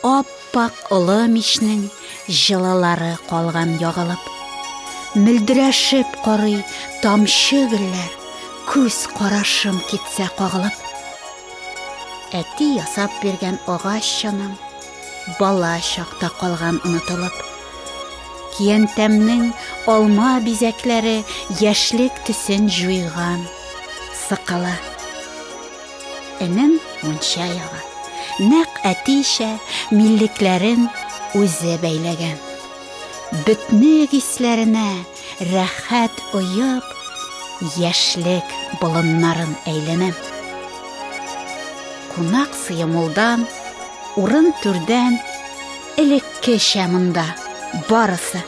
Ап-ак олы мичнең җылылары калган ягылып. Мөлдерәшеп корый тамчы гөлләр, күз карашым китсә кагылып. Әти ясап биргән агач чанам, бала чакта калган онытылып. Киянтәмнең алма бизәкләре яшьлек төсен җуйган, сыкала. Энем мунча яга. Нәк әтише миллекләрен үзе бәйләгән. Бөтнек исләренә рәхәт оеп, яшьлек болыннарын әйләнәм. Кунак сыемулдан, урын түрдән элеккечә монда барысы.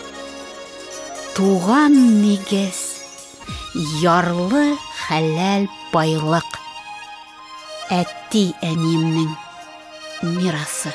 Туган нигез Ярлы хәләл байлык. Әти әниемнең мирасы.